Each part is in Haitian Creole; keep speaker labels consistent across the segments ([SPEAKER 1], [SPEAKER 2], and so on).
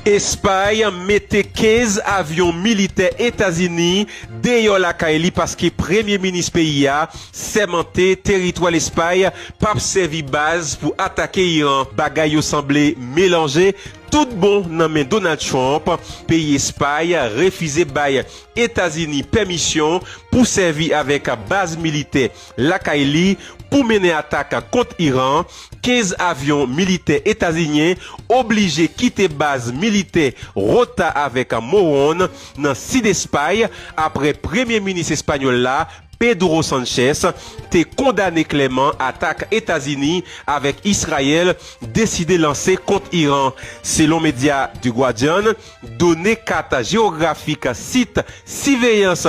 [SPEAKER 1] Espay mete 15 avyon militè Etazini deyò lakay li paske premye minis peyi a sèmante teritwa Lespay pap sèvi baz pou atake Iran. Bagay yo sanble melanje tout bon nan men Donald Trump, peyi Espay refize bay Etazini pèmisyon pou sèvi avèk baz militè lakay li pou mennen atak kont Iran, 15 avyon militè etazinyen oblije kite baz militè Rota avèk Moron nan sid Espay apre premye minis espanyòl la, Pedro Sanchez, te kondane klèman atak Etazini avèk Israel deside lanse kont Iran, selon medya The Guardian. Done kat jewografik sit siveyans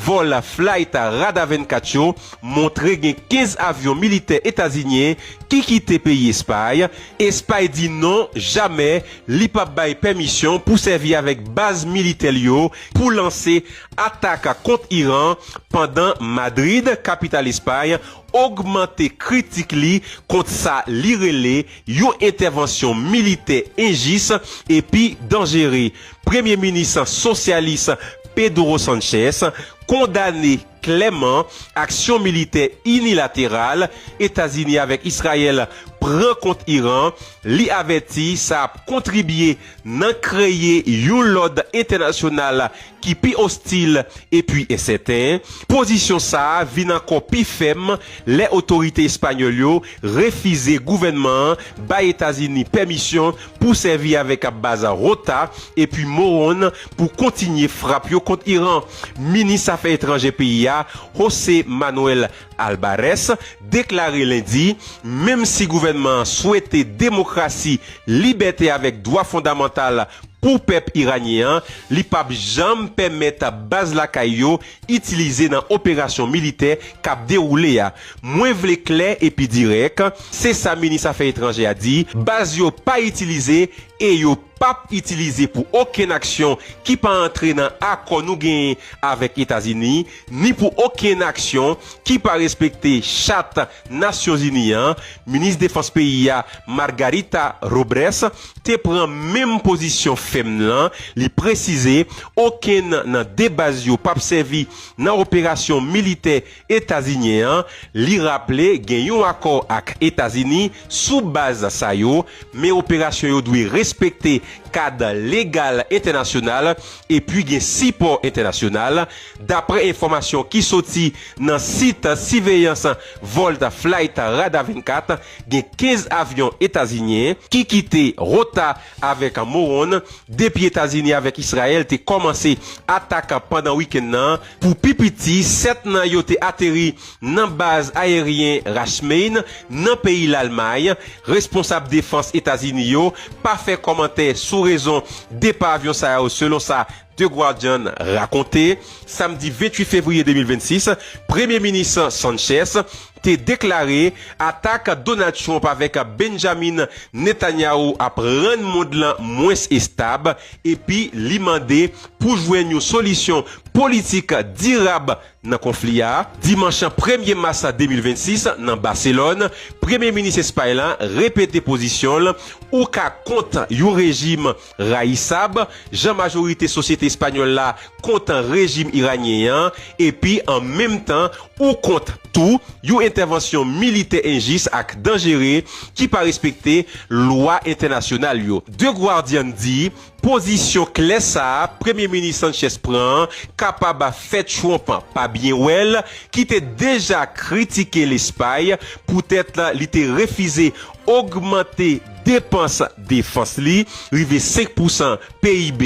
[SPEAKER 1] vòl Flight Radar 24 yo montre gen 15 avyon militè etazinyen ki kite peyi Espay. Espay di non, jamè li p ap bay pèmisyon pou sèvi avèk baz militè l yo pou lanse atak kont Iran, pandan Madrid, kapital Espay, ogmante kritik li kont sa li rele. yon entèvansyon militè enjis epi danjere, Premye Minis sosyalis Pedro Sanchez kondane klèman aksyon militè inilateral Etazini avèk Israel pran kont Iran, li avèti sa ap kontribye nan kreye yon lòd entènasyonal ki pi ostil epi ensèten, pozisyon sa a vin ankò pi fèm lè otorite espanyòl yo refize gouvènman an bay Etazini pèmisyon pou sèvi avèk baz Rota epi Morón pou kontinye frap yo kont Iran. Minis afè etranjè peyi a, José Manuel Albares deklare lendi, menm si gouvènman an swete demokrasi, libète avèk dwa fondamantal pou pèp iranyen an, li p ap janm pèmèt baz lakay yo itilize nan operasyon militè k ap dewoule a. Mwen vle klè epi dirèk, se sa minis afè etranjè a di, baz yo pa itilize e yo p ap itilize pou okenn aksyon ki pa antre nan akò nou genyen avèk Etazini, ni pou okenn aksyon ki pa respekte chat Nasyonzini an, minis defans peyi a, Margarita Robrès, te pran menm pozisyon fèm lan, li presize okenn nan 2 baz yo pap sèvi nan operasyon militè etazinyen an, li raple gen yon akò ak Etazini sou baz sa yo, men operasyon yo dwe respekte kad legal entènasyonal epi gen sipò entènasyonal, daprè enfòmasyon ki soti nan sit siveyans vòl Flight Radar 24, gen 15 avyon etazinyen ki kite Rota avèk Moron depi Etazini avèk Israel te kòmanse atak pandan wikenn nan. Pou pi piti, 7 nan yo te ateri nan baz ayeryen Rachmain, nan peyi Lalmay. Responsab defans Etazini yo pa fè kòmantè sou rezon depa avyon sa yo selon sa The Guardian rakonte. Samdi 28 fevriye 2026, Premye Minis Sanchez te deklare atak Donald Trump avèk Benjamin Netanyahu ap rann mond lan mwens estab epi li mande pou jwenn yon solisyon politik dirab nan konfli a. Dimanch premye mas 2026, nan Baselòn, Premye Minis Espay la repete pozisyon l, Ou ka kont yon rejim Rayisab, jan majorite sosyete espanyòl la kontan rejim iranyen an, epi an menm tan ou kont tou yon entèvansyon militè enjis ak danjere ki pa respekte lwa entènasyonal yo. The Guardian di, Pozisyon klè sa a Premye Minis Sanchez pran an kapab fè Trump pa byen wè l, ki te deja kritike Lespay poutèt li te refize ogmante depans defans li rive 5 pousan PIB,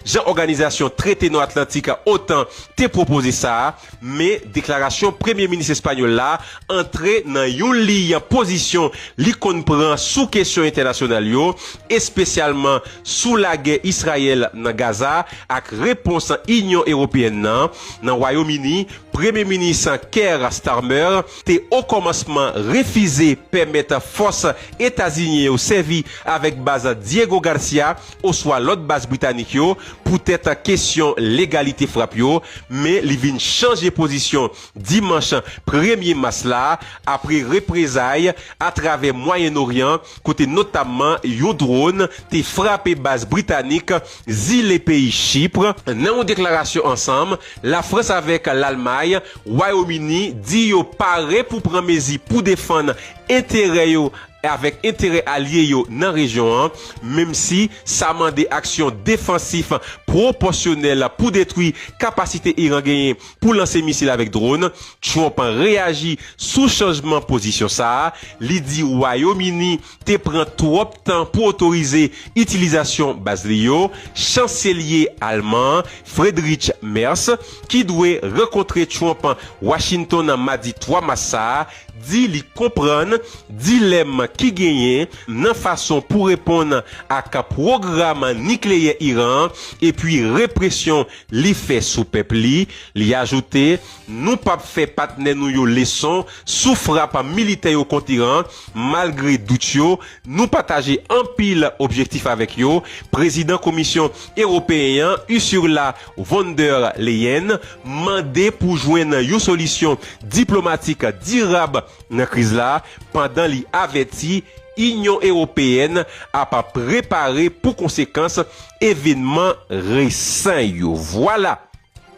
[SPEAKER 1] jan Òganizasyon Trete Nò Atlantik, otan, te pwopoze sa, men deklarasyon Premye Minis espanyòl la antre nan yon liy pozisyon li konn pran sou kesyon entènasyonal yo, espesyalman sou lagè Israyèl nan Gaza ak repons Inyon Ewopeyèn nan. Nan Wayom Ini, Premye Minis Keir Starmer. te okòmansman refize pèmèt fòs etazinyen yo sèvi avèk baz Diego Garcia oswa lòt baz britanik yo poutèt kesyon legalite frap yo, men li vin chanje pozisyon dimanch premye mas la apre reprezay atravè Mwayen Oryan kote notamman yon dron te frape baz britanik zile peyi Chypre. Nan yon deklarasyon ansanm, Lafrans avèk Lalmay, Wayom Ini, di yo pare pou pran mezi pou defann enterè yo avèk enterè alye yo nan rejyon an, menm si sa mande aksyon defansif pwopòsyonèl pou detwi kapasite Iran genyen pou lanse misil avèk dron. Trump reyaji sou chanjman pozisyon sa a, li di Wayom Ini te pran twòp tan pou otorize itilizasyon baz li yo, chanselye alman an, Friedrich Merz, ki dwe rankontre Trump Washington nan madi 3 mas sa a, di li konprann dilèm ki genyen nan fason pou reponn ak pwogram nikleyè Iran an epi represyon li fè sou pèp li. Li ajoute, Nou pap fè patnè nou yo leson sou frap militè yo kont Iran, Malgre dout yo, nou pataje anpil objektif avèk yo, Prezidan Komisyon Ewopeyen an, Ursula von der Leyen, mande pou jwenn yon solisyon diplomatik dirab nan kriz la, pandan li avèti Inyon Ewopeyèn ap prepare pou konsekans evenman resan yo. Vwala!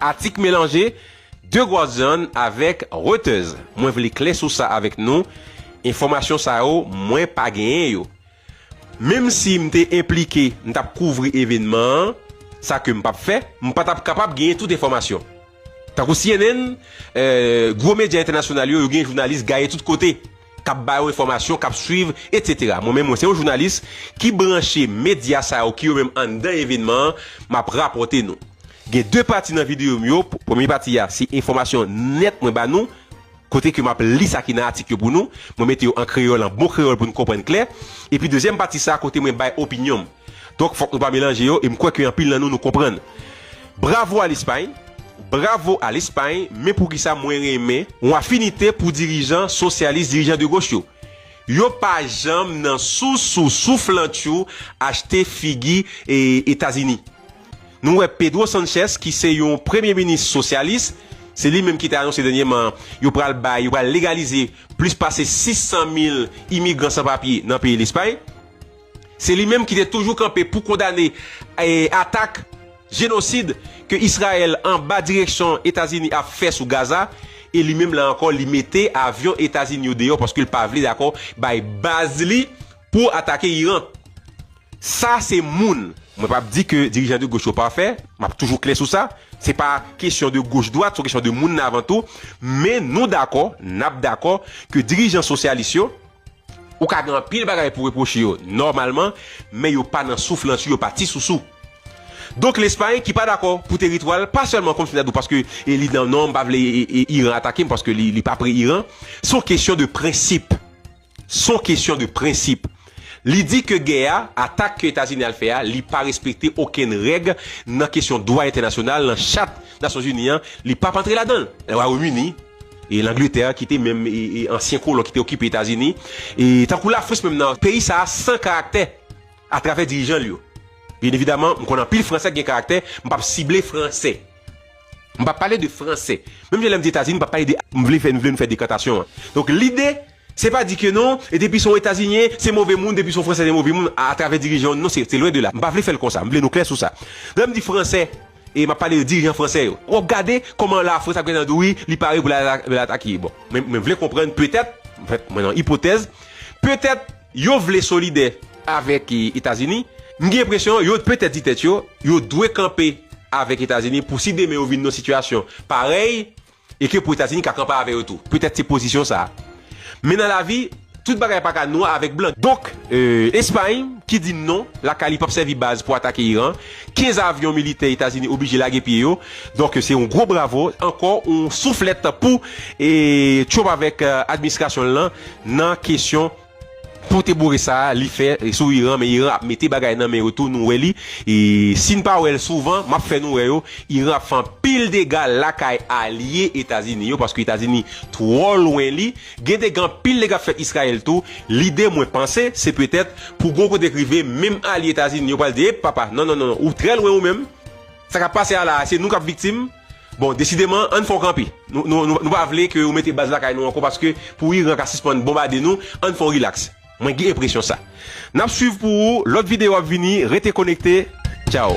[SPEAKER 1] Atik melanje, De Guardian avèk Reuters. Mwen vle klè sou sa avèk nou, enfòmasyon sa yo mwen pa genyen yo. Menm si m te enplike, m t ap kouvri evenman an, sa ke m p ap fè, m pa t ap kapab genyen tout enfòmasyon. Tankou cnn, gwo medya entènasyonal yo, yo gen jounalis gaye tout kote. k ap ba yo enfòmasyon, k ap swiv, etsetera. Mwen menm, mwen se yon jounalis ki branche medya sa yo ki yo menm anndan evennman an, m ap rapòte nou. Gen de pati nan videyo m yo, premye pati a se enfòmasyon nèt mwen ba nou, kote ke m ap li sa ki nan atik yo pou nou, mwen mete yo an kreyòl, an bon kreyòl pou nou konprann klè, epi dezyèm pati sa kote mwen bay opinyon m. Donk fòk nou pa melanje yo e m kwè ke anpil nan nou nou konprann. Bravo a Lespay! Bravo a Lespay! Men poukisa mwen renmen yon afinite pou dirijan sosyalis, dirijan de goch yo? Yo pa janm nan sousou souflantchou achte figi Etazini. Nou wè Pedro Sanchez ki se yon premye minis sosyalis, se li menm ki te anonse dènyeman yo pral bay, yo pral legalize plis pase 600 mil imigran san papye nan peyi Lespay. Se li menm ki te toujou kanpe pou kondane atak jenosid ke Israel anba direksyon Etazini ap fè sou Gaza e li menm la ankò li mete avyon Etazini yo deyò paske li pa vle dakò bay baz li pou atake Iran. Sa se moun. Mwen pap di ke dirijan de goch yo pafè, map toujou klè sou sa, se pa kesyon de goch dwat, son kesyon de moun nan avan tou, men nou dakò, nap dakò ke dirijan sosyalis yo, Ou ka gen anpil bagay pou repwoche yo nòmalman, men yo pa nan souf lanti, yo pa ti sousou. Donk Lespay ki pa dakò pou teritwa l pa sèlman konn fini ak nou paske li nan non m pa vle Iran atake m paske li pa pre Iran, s on kesyon de prensip. S on kesyon de prensip. Li di ke gè a, atak ke Etazini al fè a, li pa respekte okenn règ nan kesyon dwa entènasyonal, nan chat Nasyonzini an, li p ap antre ladan l. Lè w al Wayomini. E Langletè ki te menm e ansyen kolon ki te okipe Etazini, e tankou Lafrans menm nan peyi sa a san karaktè atravè dirijan l yo. Byen evidaman, m konn anpil Fransè k gen karaktè, m p ap sible Fransè. M p ap pale de Fransè. Menm jan lè m di Etazini, m p ap pale de. M vle fè, m vle nou fè dekantasyon an. Donk lide Se pa di ke non, depi son etazinyen, se move moun, depi son fransè se move moun a travè dirijan yo, non se lwen de la, m pa vle fè l konsa, m vle nou klè sou sa. Lè m di fransè, e m ap pale de dirijan fransè yo, w ap gade kòman la frans ap gade nan do wi, li pare pou l al atake, bon, mwen vle konprann petèt, anfèt mwen nan ipotèz, petèt yo vle solidè avèk etazini, m gen enpresyon yo petèt di tèt yo, yo dwe kanpe avèk etazini pou si demen yo vin nan sitiyasyon parèy, e ke pou Etazini ka kanpe avè yo tou. Petèt se pozisyon sa a. Men nan lavi, tout bagay pa ka nwa avèk blan. Donk, Espay, ki di non, lakay li p ap sèvi baz pou atake Iran, 15 avyon militè Etazini oblije lage pye yo. Donk, se yon gwo bravo, ankò yon souflèt pou Trump avèk administrasyon l lan nan kesyon. Pote boure sa li fè sou iran men iran ap mete bagay nan men yo tou nou wè li sin pa wèl souvan map fè nou wè yo iran ap fè anpil dega lakay alye etazini yo paske etazini twò lwen li gen dega anpil dega ap fèt israel tou lide mwen panse se petèt pou gon kote k rive menm alye etazini yo pral di ep papa non non ou trè lwen ou menm. Sa kap pase a la a se nou kap viktim bon desideman ann fè yon kanpe nou pa vle ke yo mete baz lakay nou ankò paske pou Iran ka sispann bonbade nou ann fè yon rilaks mwen gen enpresyon sa nap swiv pou ou lòt videyo ap vini rete konekte tchaw.